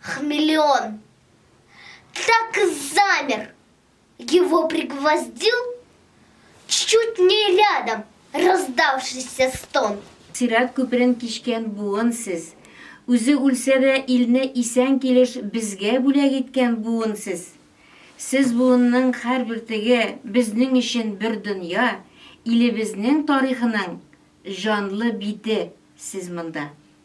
Хмелеон так и замер. Его пригвоздил чуть не рядом раздавшийся стон. Сират күперен кичкән буын сез. Үзе үлсә дә илне исән килеш безгә бүләк иткән буын сез. Сез буынның хәр бөртеге безнең өчен бер дөнья, илебезнең тарихының җанлы бите сез монда.